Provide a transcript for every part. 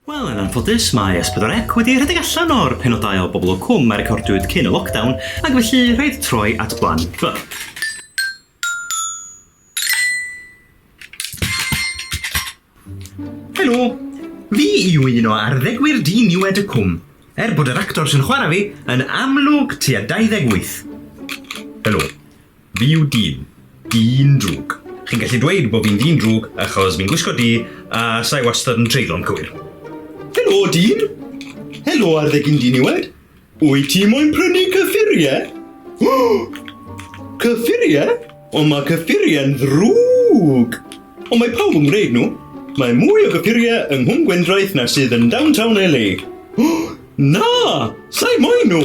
Wel, yn anffodus, mae S4C wedi rhedeg allan o'r penodau o Bobol o Cwm a recordiwyd cyn y lockdown, ac felly rhaid troi at Plan B. Helo! Fi yw un o arddegwyr diniwed y Cwm, er bod yr actor sy'n chwarae fi yn amlwg tua 28. Helo. Fi yw dyn. Dyn drwg. Chi'n gallu dweud bo fi'n dyn drwg achos fi'n gwisgo du a sa i wastad yn treiglo'n cywir. Helo dyn! Helo arddegyn diniwed! Wyt ti moyn prynu cyffurie? Cyffurie? Ond mae cyffurie'n ddrwg! Ond mae pawb yn gwneud nhw. Mae mwy o gyffurie yng Nghwm Gwendraeth na sydd yn downtown LA. Na! Sa i moyn nhw!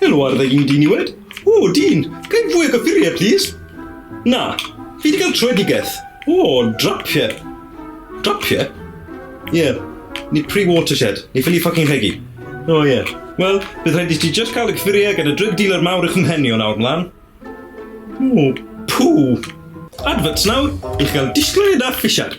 Helo ar ddeg un diniwed. O, dyn, gael fwy o gyffuriau, plis? Na, fi wedi cael trwedigaeth. O, drapiau. Drapiau? Ie, yeah. ni pre watershed, ni ffili ffocin rhegi. O, ie. Yeah. Wel, bydd rhaid i ti just cael y cyffuriau gyda drug dealer mawr eich mhenio nawr mlaen. O, pŵ. Adverts nawr, i'ch gael disglair da ffisiad.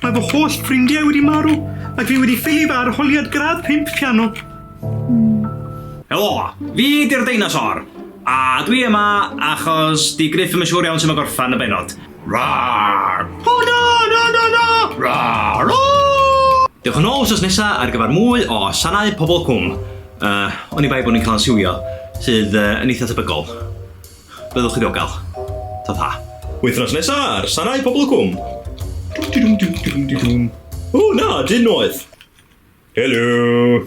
Mae fy holl ffrindiau wedi marw ac fi wedi ffili fy arholiad gradd pump piano. Helo! Fi 'di'r deinosor! A dwi yma achos 'di Gruff ddim yn siŵr iawn sut mae gorffen y bennod. Rawr! O na! Na na na! Rawr! Ooh! Dewch yn ôl wsos nesa ar gyfer mwy o sanau Pobol Cwm. Yy, oni bai bod ni'n cael ein siwio, sydd yy yn eitha' tebygol. Byddwch chi ddiogel. Ta ta. Wythnos nesa ar Sanau Pobl y Cwm. O na, dyn noeth! Helo!